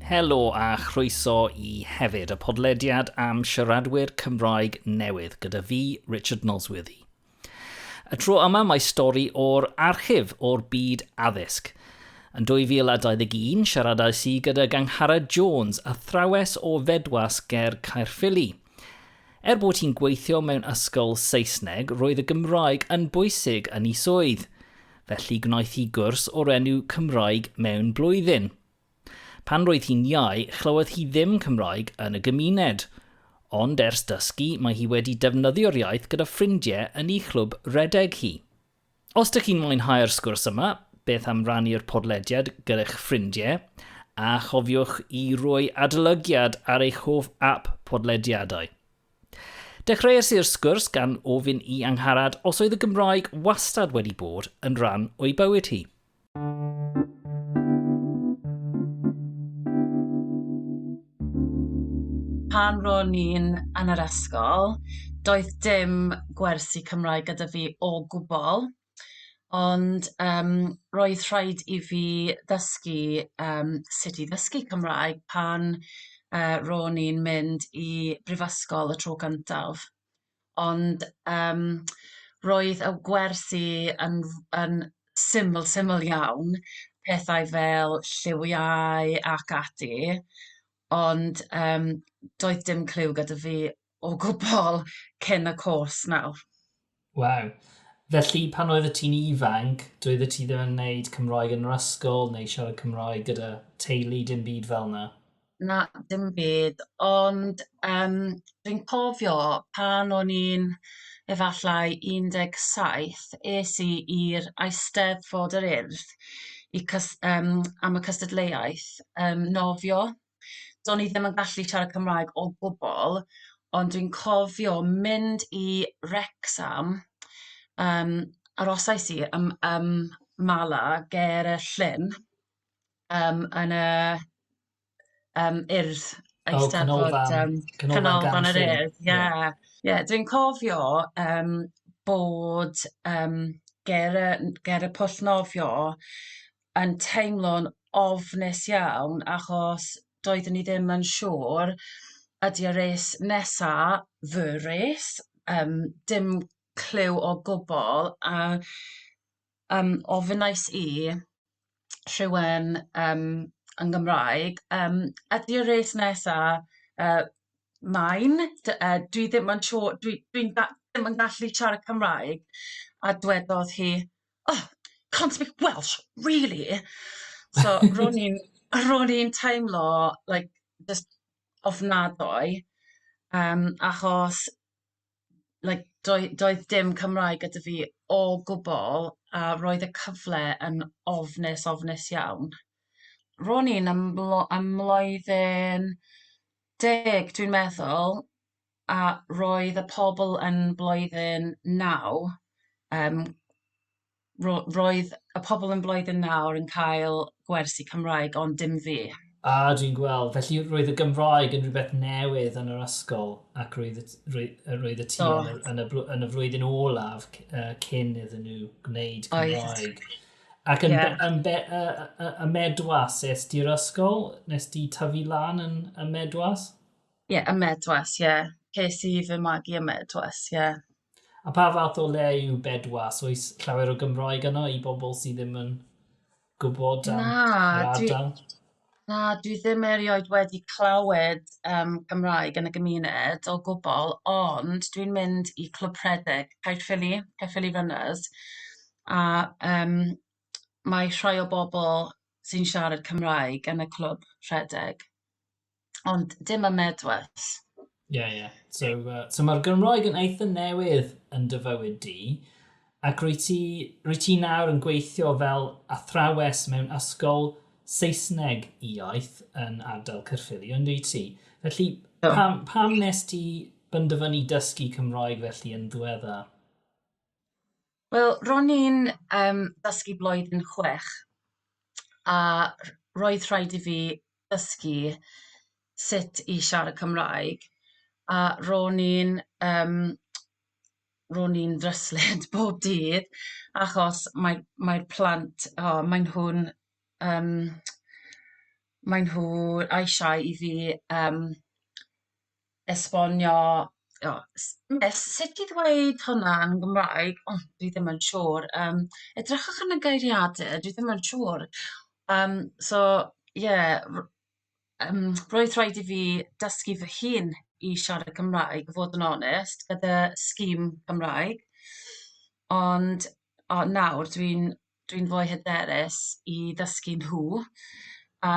Helo a chroeso i hefyd, y podlediad am siaradwyr Cymraeg newydd gyda fi, Richard Nosworthy. Y tro yma mae stori o'r archif o'r byd addysg. Yn 2021, siaradais i gyda Gangharad Jones, athrawes o Fedwas ger Caerffili. Er bod hi'n gweithio mewn ysgol Saesneg, roedd y Gymraeg yn bwysig yn ei swydd. Felly gwnaeth hi gwrs o'r enw Cymraeg mewn blwyddyn. Pan roedd hi'n iau, chlywodd hi ddim Cymraeg yn y gymuned. Ond ers dysgu, mae hi wedi defnyddio'r iaith gyda ffrindiau yn ei chlwb redeg hi. Os dych chi'n mwynhau'r sgwrs yma, beth am rannu'r podlediad gyda'ch ffrindiau, a chofiwch i roi adolygiad ar eich hoff ap podlediadau. Dechreuais i'r sgwrs gan ofyn i Angharad os oedd y Gymraeg wastad wedi bod yn rhan o'i bywyd hi. Pan ro'n i'n yn yr ysgol, doedd dim gwersi Cymraeg gyda fi o gwbl, ond yym roedd rhaid i fi ddysgu yym sut i ddysgu Cymraeg pan yy ro'n i'n mynd i brifysgol y tro cyntaf. ond yym roedd y gwersi yn yn syml syml iawn, pethau fel lliwiau ac ati, ond yym doedd dim cliw gyda fi o gwbl cyn y cwrs nawr. Waw. Felly pan oeddet ti'n ifanc, doeddet ti ddim yn wneud Cymraeg yn yr ysgol neu siarad Cymraeg gyda teulu, dim byd fel 'na? Na dim byd ond yym dwi'n cofio pan o'n i'n efallai 17 es i i'r Eisteddfod yr Urdd i cys- yym am y cystadleuaeth yym nofio. Do'n i ddim yn gallu siarad Cymraeg o gwbl ond dwi'n cofio mynd i Wrecsam yym arosais i ym ym Mala ger y llyn yym yn y yym Urdd Eisteddfod yym Canolfan yr Urdd ie ie dwi'n cofio yym bod yym ger y n- ger y pwll nofio yn teimlo'n ofnus iawn achos doeddwn i ddim yn siŵr ydi y rês nesa fy rês yym dim cliw o gwbwl a Yym ofynnais i rhywun yym yn Gymraeg yym ydi y res nesa yy mine dy- yy dwi ddim yn siŵr dwi dwi'n da- ddim yn gallu siarad Cymraeg a dwedodd hi oh can't speak Welsh really so ro'n i'n ro'n i'n teimlo like jyst ofnadwy yym achos like doe- doedd dim Cymraeg gyda fi o gwbl a roedd y cyfle yn ofnus ofnus iawn. Ro'n i'n ym mlo- ym mlwyddyn deg dwi'n meddwl a roedd y pobl yn blwyddyn naw yym ro- roedd y pobl yn blwyddyn nawr yn cael gwersi Cymraeg ond dim fi. A, dwi'n gweld. Felly roedd y Gymraeg yn rhywbeth newydd yn yr ysgol ac roedd y, roedd, roedd y ti yn, y, yn, y, yn y flwyddyn olaf uh, cyn iddyn nhw gwneud Cymraeg. Oedd. Ac yn, yeah. yn, be, uh, uh, y medwas, es di'r ysgol? Nes di tyfu lan yn y medwas? Ie, yeah, y medwas, ie. Yeah. Ces i fy magu y medwas, ie. Yeah. A pa fath o le yw Bedwas? Oes llawer o Gymraeg yno i bobl sydd ddim yn gwybod am na, yr ardal? Dwi, na, dwi ddim erioed wedi clywed um, Gymraeg yn y gymuned o gwbl, ond dwi'n mynd i Clwb Rhedeg, Caerffili, Caerffili Runners, a um, mae rhai o bobl sy'n siarad Cymraeg yn y Clwb Rhedeg. ond dim y medwes. Ie, yeah, ie. Yeah. So, uh, so mae'r Gymroeg yn eitha newydd yn dy fywyd di, ac rwy ti, rwy ti nawr yn gweithio fel athrawes mewn ysgol Saesneg iaith yn ardal Cyrffili, ond rwy ti. Felly, pam, pam nes ti benderfynu dysgu Cymroeg felly yn ddiwedda? Wel ro'n i'n yym dysgu blwyddyn chwech a rh- roedd rhaid i fi dysgu sut i siarad Cymraeg a ro'n i'n yym ro'n i'n ddryslyd bob dydd achos mae mae'r plant o maen nhw'n yym maen nhw eisiau i fi yym esbonio o s- ne- sut i ddweud hwnna yn Gymraeg o dwi ddim yn siŵr yym edrychwch yn y geiriade dwi ddim yn siŵr yym so ie r- yym roedd rhaid i fi dysgu fy hun i siarad Cymraeg i fod yn onest gyda sgim Cymraeg ond o nawr dwi'n dwi'n fwy hyderus i ddysgu nhw a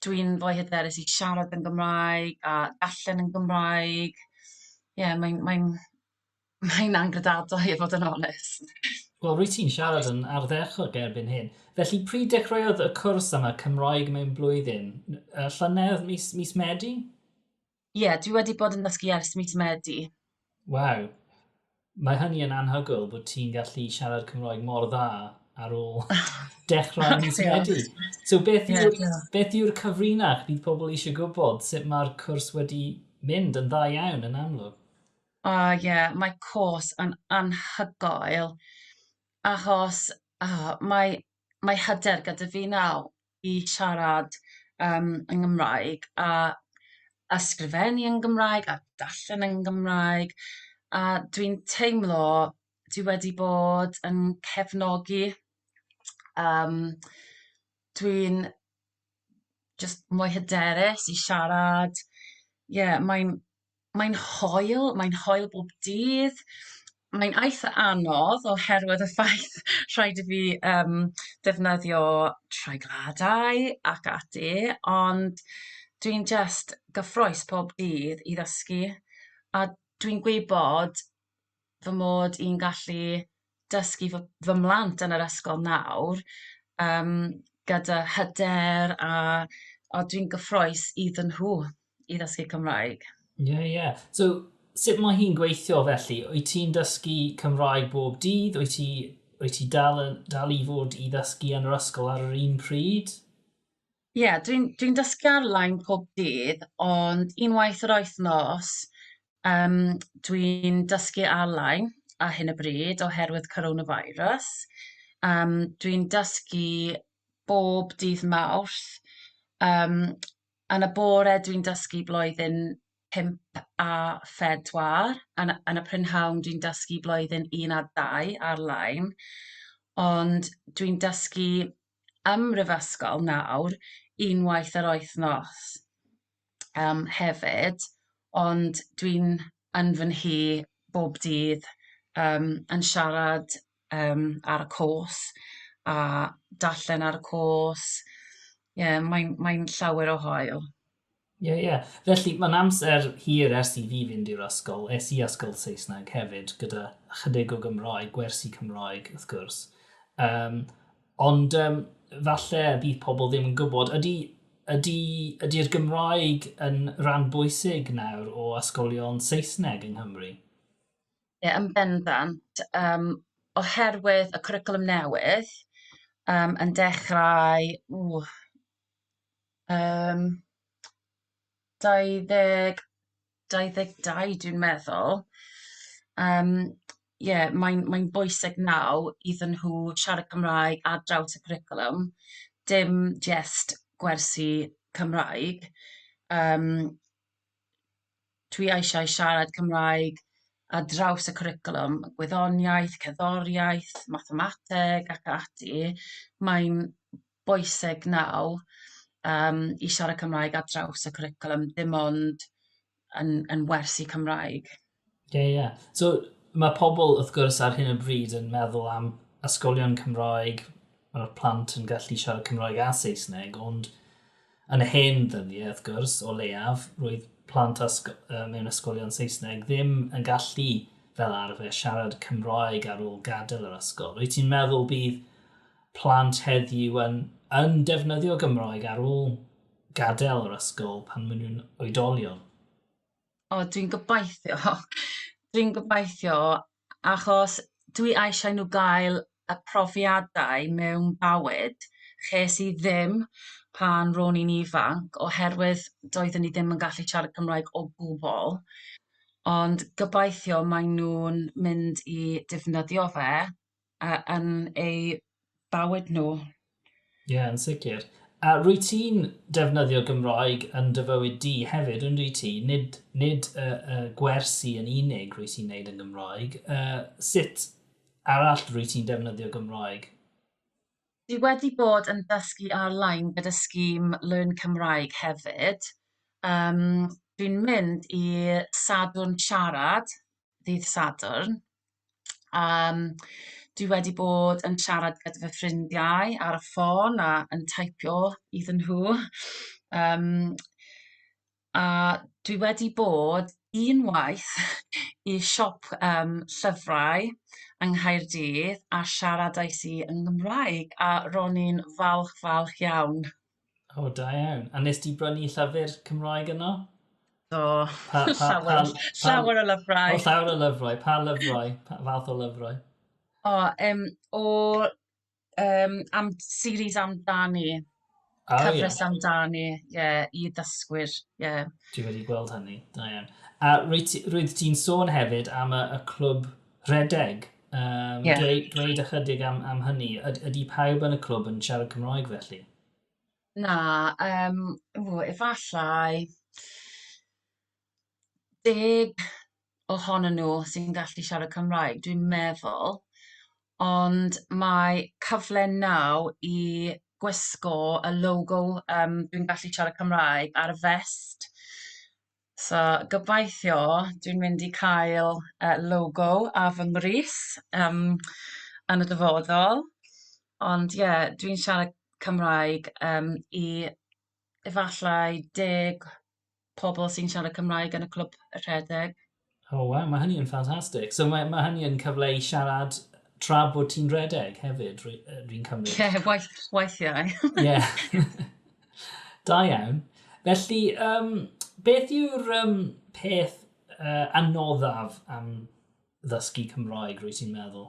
dwi'n fwy hyderus i siarad yn Gymraeg a darllen yn Gymraeg ie mae'n mae'n mae'n angredadwy i fod yn onest. Wel rwyt ti'n siarad yn ardderchog erbyn hyn. Felly pryd dechreuodd y cwrs yma Cymraeg mewn blwyddyn? Llynedd mis mis Medi? Ie, dwi wedi bod yn dysgu ers mis Medi. Waw. Mae hynny yn anhygoel bod ti'n gallu siarad Cymraeg mor dda ar ôl dechrau mis Medi. So beth yw'r yeah, beth yw'r cyfrinach bydd pobl eisiau gwybod sut mae'r cwrs wedi mynd yn dda iawn yn amlwg? O oh, ie, yeah, mae cwrs yn anhygoel achos oh, mae, mae hyder gyda fi nawr i siarad yym yn Gymraeg a ysgrifennu yn Gymraeg a darllen yn Gymraeg a dwi'n teimlo dwi wedi bod yn cefnogi yym dwi'n jyst mwy hyderus i siarad ie mae'n Mae'n hoel, mae'n hoel bob dydd. Mae'n eitha anodd oherwydd y ffaith rhaid i fi yym defnyddio treigliadau ac ati, ond dwi'n jyst gyffrous pob dydd i ddysgu, a dwi'n gwybod fy mod i'n gallu dysgu fy fy mhlant yn yr ysgol nawr yym gyda hyder a a dwi'n gyffrous iddyn nhw i ddysgu Cymraeg. Ie ie. So sut mae hi'n gweithio felly? Wyt ti'n dysgu Cymraeg bob dydd? Wyt ti wyt ti dal yn dal i fod i ddysgu yn yr ysgol ar yr un pryd? Ie, dwi'n dwi'n dysgu ar-lein pob dydd, ond unwaith yr wythnos, yym, dwi'n dysgu ar-lein ar hyn o bryd oherwydd coronavirus. Yym, dwi'n dysgu bob dydd Mawrth, yym, yn y bore dwi'n dysgu blwyddyn pump a phedwar, yn y yn y prynhawn dwi'n dysgu blwyddyn un a dau ar-lein, ond dwi'n dysgu ym mhrifysgol nawr unwaith yr wythnos yym hefyd ond dwi'n yn fy nhŷ bob dydd yym yn siarad yym ar y cwrs a darllen ar y cwrs ie mae'n mae'n llawer o haul. Ie, yeah, ie. Yeah. Felly, mae'n amser hir ers i fi fynd i'r ysgol. Es i ysgol Saesneg hefyd, gyda chydig o Gymraeg, gwersi Cymraeg, wrth gwrs. Um, ond um, falle bydd pobl ddim yn gwybod, ydy, ydy, ydy'r Gymraeg yn rhan bwysig nawr o ysgolion Saesneg yng Nghymru? Ie, yeah, yn bendant. Um, oherwydd y cwricwlwm newydd um, yn dechrau... Ww, Yym 2022 dwi'n meddwl yym ie mae'n mae'n bwysig naw iddyn nhw siarad Cymraeg ar draws y cwricwlwm dim jyst gwersi Cymraeg yym dwi eisiau siarad Cymraeg ar draws y cwricwlwm, gwyddoniaeth, cerddoriaeth, mathemateg ac ati, mae'n bwysig nawr yym i siarad Cymraeg ar draws y cwricwlwm, dim ond yn yn wersi Cymraeg. Ie, ie. So, mae pobl, wrth gwrs, ar hyn o bryd yn meddwl am ysgolion Cymraeg, mae'r plant yn gallu siarad Cymraeg a Saesneg, ond yn y hen ddyddiau, wrth gwrs, o leiaf, roedd plant ysg mewn ysgolion Saesneg ddim yn gallu fel arfer siarad Cymraeg ar ôl gadael yr ysgol. Rwyt ti'n meddwl bydd plant heddiw yn, yn defnyddio Gymraeg ar ôl gadael yr ysgol pan maen nhw'n oedolion? O dwi'n gobeithio dwi'n gobeithio achos dwi eisiau nhw gael y profiadau mewn bywyd ches i ddim pan ro'n i'n ifanc oherwydd doeddwn i ddim yn gallu siarad Cymraeg o gwbl ond gobeithio maen nhw'n mynd i defnyddio fe a, yn eu bywyd nhw. Ie, yeah, yn sicr. A rwy ti'n defnyddio Gymraeg yn dy fywyd di hefyd, yn rwy ti? Nid, nid y, y gwersi yn unig rwy ti'n neud yn Gymraeg. Uh, sut arall rwy ti'n defnyddio Gymraeg? Dwi wedi bod yn dysgu ar-lein gyda scheme Learn Cymraeg hefyd. Um, dwi'n mynd i Sadwrn Siarad, ddydd Sadwrn, Yym dwi wedi bod yn siarad gyda fy ffrindiau ar y ffôn a yn taipio iddyn nhw yym a dwi wedi bod unwaith i siop yym llyfrau yng Nghaerdydd a siaradais i yn Gymraeg a ro'n i'n falch falch iawn. O, da iawn. A nes ti brynu llyfr Cymraeg yno? Do, pa, pa, llawer, pa, pa, llawer o lyfrau. O, llawer o lyfrau. Pa lyfrau? Pa fath o lyfrau? O, um, o um, am, series amdani. Oh, Cyfres yeah. amdani, ie, yeah, i ddysgwyr, ie. Yeah. Dwi wedi gweld hynny, da iawn. A roedd ti'n sôn hefyd am y, y clwb Rhedeg. Um, yeah. dweud, dweud ychydig am, am hynny. Ydy pawb yn y clwb yn siarad Cymroeg felly? Na, um, ww, efallai deg ohonyn nhw sy'n gallu siarad Cymraeg, dwi'n meddwl, ond mae cyfle naw i gwisgo y logo um, dwi'n gallu siarad Cymraeg ar y fest So gobeithio dwi'n mynd i cael yy logo ar fy mrys yym yn y dyfodol ond ie dwi'n siarad Cymraeg yym i efallai deg pobl sy'n siarad Cymraeg yn y clwb rhedeg. O waw, mae hynny yn ffantastig. So mae, mae hynny yn cyfle i siarad tra bod ti'n redeg hefyd, rwy'n ry, ry cymryd? Ie, yeah, waith, weithiau. Ie. yeah. da iawn. Felly, um, beth yw'r um, peth uh, anoddaf am ddysgu Cymroeg, rwy'n ti'n meddwl?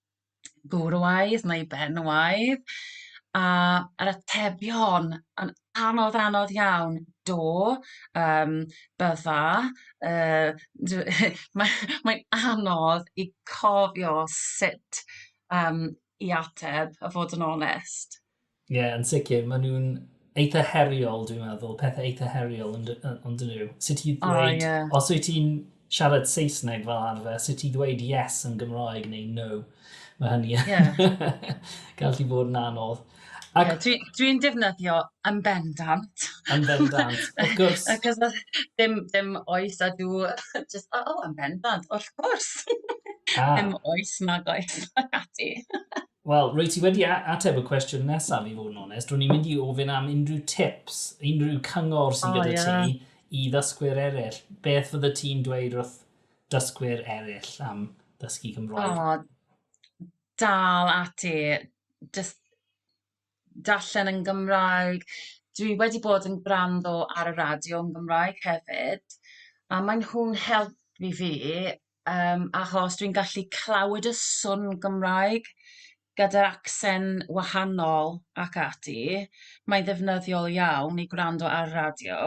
gwrywaidd neu benywaidd, a yr atebion yn anodd anodd iawn, do, yym bydda, yy dw- mae mae'n anodd i cofio sut yym i ateb a fod yn onest. Ie, yeah, yn sicr. Maen nhw'n eitha heriol, dwi'n meddwl. Pethau eitha heriol ond yn dyn nhw. Sut ti'n dweud... Oh, yeah. Os wyt ti'n siarad Saesneg fel arfer, sut ti'n dweud yes yn Gymraeg neu no. Mae hynny yn... Yeah. gallu bod yn anodd. Ac... Yeah, Dwi'n dwi, dwi defnyddio yn bendant. Yn bendant, of course. Ac os ddim, ddim oes a dw, just, oh, oh, yn bendant, of course. Ah. Ddim oes, nag oes, ac ati. Wel, rwy ti wedi ateb y cwestiwn nesaf i fod yn onest. Rwy'n i'n mynd i ofyn am unrhyw tips, unrhyw cyngor sy'n oh, gyda yeah. ti i ddysgwyr eraill. Beth fydde ti'n dweud wrth dysgwyr eraill am ddysgu Cymroeg? Oh, dal ati, just darllen yn Gymraeg. Dwi wedi bod yn gwrando ar y radio yn Gymraeg hefyd, a maen nhw'n helpu fi Yym achos dwi'n gallu clywed y swn Gymraeg gyda'r acsen wahanol ac ati. Mae'n ddefnyddiol iawn i gwrando ar radio.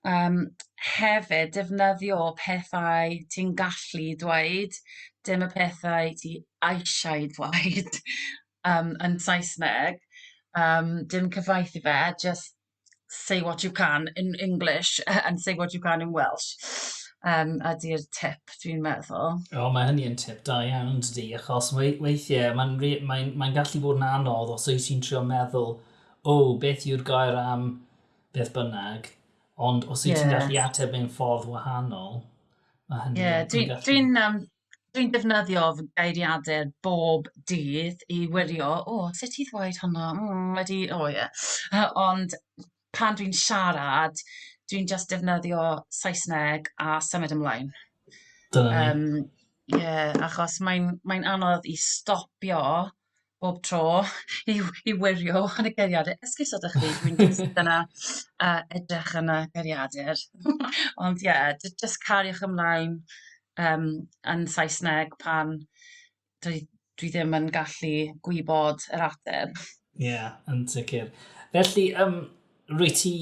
Yym hefyd defnyddio pethau ti'n gallu dweud dim y pethau ti eisiau dweud yym yn Saesneg yym dim cyfaithi fe jyst say what you can in English and say what you can in Welsh um, ydy'r tip, dwi'n meddwl. O, oh, mae hynny yn tip da iawn, dydy, achos weithiau mae'n mae, mae, mae gallu bod yn anodd os oes ti'n trio meddwl, o, oh, beth yw'r gair am beth bynnag, ond os yeah. ti'n gallu ateb mewn ffordd wahanol, mae hynny yeah, yn gallu... Dwi'n um, Dwi'n defnyddio fy geiriadur bob dydd i wirio, "o, sut i ddweud hwnna, mm, wedi, o ie" yy ond pan dwi'n siarad dwi'n jyst defnyddio Saesneg a symud ymlaen. Dyna ni. Yym ie achos mae'n mae'n anodd i stopio bob tro i i wirio yn y geiriadur. Esgusod â chi dwi'n jyst yna a edrych yn y geiriadur. Ond ie j- jyst cariwch ymlaen yym yn Saesneg pan dwi dwi ddim yn gallu gwybod yr ateb. Ie yn sicir. Felly yym Rwyt ti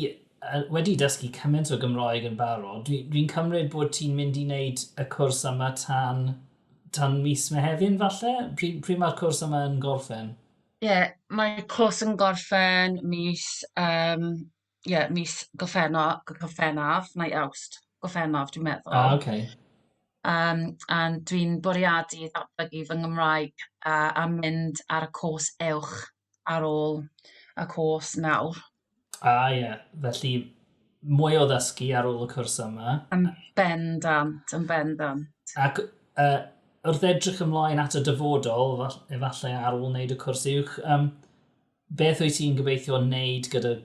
wedi dysgu cymaint o Gymraeg yn barod, dwi, dwi'n cymryd bod ti'n mynd i wneud y cwrs yma tan, tan mis Mehefin falle? Pryd, pryd mae'r cwrs yma yn gorffen? Ie, yeah, mae cwrs yn gorffen mis, um, ie, yeah, mis Gorffennaf, Gorffennaf, neu Awst, Gorffennaf dwi'n meddwl. Ah, oce. Okay. Um, a dwi'n bwriadu ddatblygu fy Nghymraeg uh, a mynd ar y cwrs uwch ar ôl y cwrs nawr. A ie, felly mwy o ddysgu ar ôl y cwrs yma. Yn bendant, yn bendant. Ac uh, wrth edrych ymlaen at y dyfodol, efallai ar ôl wneud y cwrs uwch, um, beth wyt ti'n gobeithio wneud gyda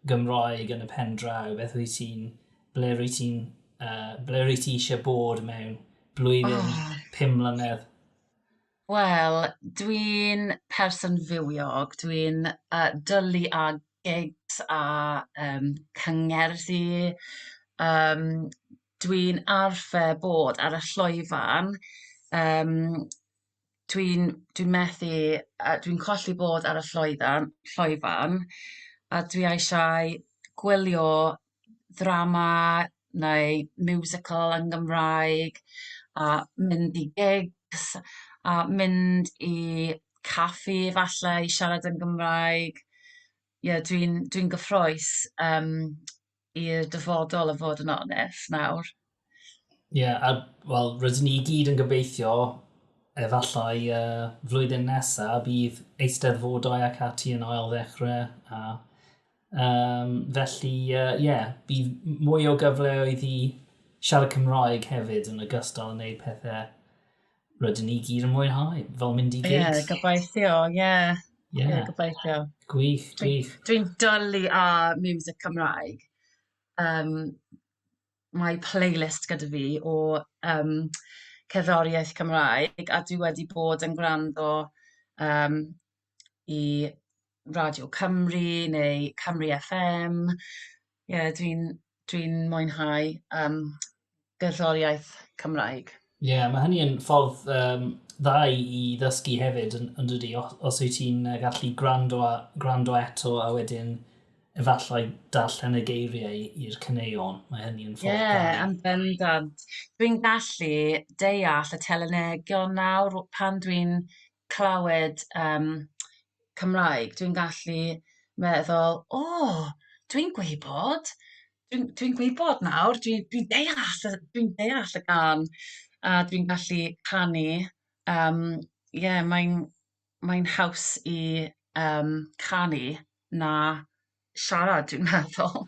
Gymroeg yn y pen draw? Beth wyt ti'n, ble wyt ti'n, uh, ble wyt ti eisiau bod mewn blwyddyn, oh. pum mlynedd? Wel, dwi'n person fywiog, dwi'n yy dwli â gigs a yym cyngerddi, yym dwi'n arfer bod ar y llwyfan, yym dwi'n dwi'n methu yy dwi'n colli bod ar y llwyfan llwyfan a dwi eisiau gwylio ddrama neu musical yn Gymraeg a mynd i gigs a mynd i caffi falle i siarad yn Gymraeg. Ie dwi'n dwi'n gyffrous yym i'r dyfodol o fod yn onest nawr. Ie, yeah, a wel, rydyn ni i gyd yn gobeithio efallai uh, flwyddyn nesaf bydd eisteddfodau ac ati yn ail ddechrau. A, um, felly, ie, uh, yeah, bydd mwy o gyfleoedd i siarad Cymraeg hefyd yn ogystal yn gwneud pethau rydyn ni gyd yn mwynhau, fel mynd i gyd. Ie, yeah, gobeithio, ie. Yeah. Ie, yeah. yeah, gobeithio. Gwych, gwych. Dwi'n dwi dwlu ar music Cymraeg. Um, mae playlist gyda fi o yym cerddoriaeth Cymraeg a dwi wedi bod yn gwrando yym i Radio Cymru neu Cymru FM. Ie dwi'n dwi'n mwynhau yym gerddoriaeth Cymraeg. Ie, yeah, mae hynny yn ffordd um, dda i ddysgu hefyd, yn, yn dydy, os, os wyt ti'n gallu gwrando, a, gwrando eto a wedyn efallai darllen y geiriau i'r cyneuon. Mae hynny yn ffordd yeah, da. am bendant. Dwi'n gallu deall y telenegion nawr pan dwi'n clywed yym Cymraeg, dwi'n gallu meddwl, "o, dwi'n gwybod, dwi'n dwi'n gwybod nawr, dwi dwi'n deall y dwi'n deall y gân, a dwi'n gallu canu." Yym ie, mae'n mae'n haws i yym canu na... siarad dwi'n meddwl.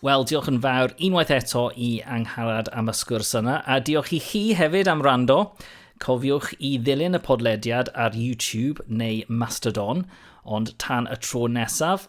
Wel, diolch yn fawr unwaith eto i Angharad am y sgwrs yna, a diolch i chi hefyd am rando. Cofiwch i ddilyn y podlediad ar YouTube neu Mastodon, ond tan y tro nesaf,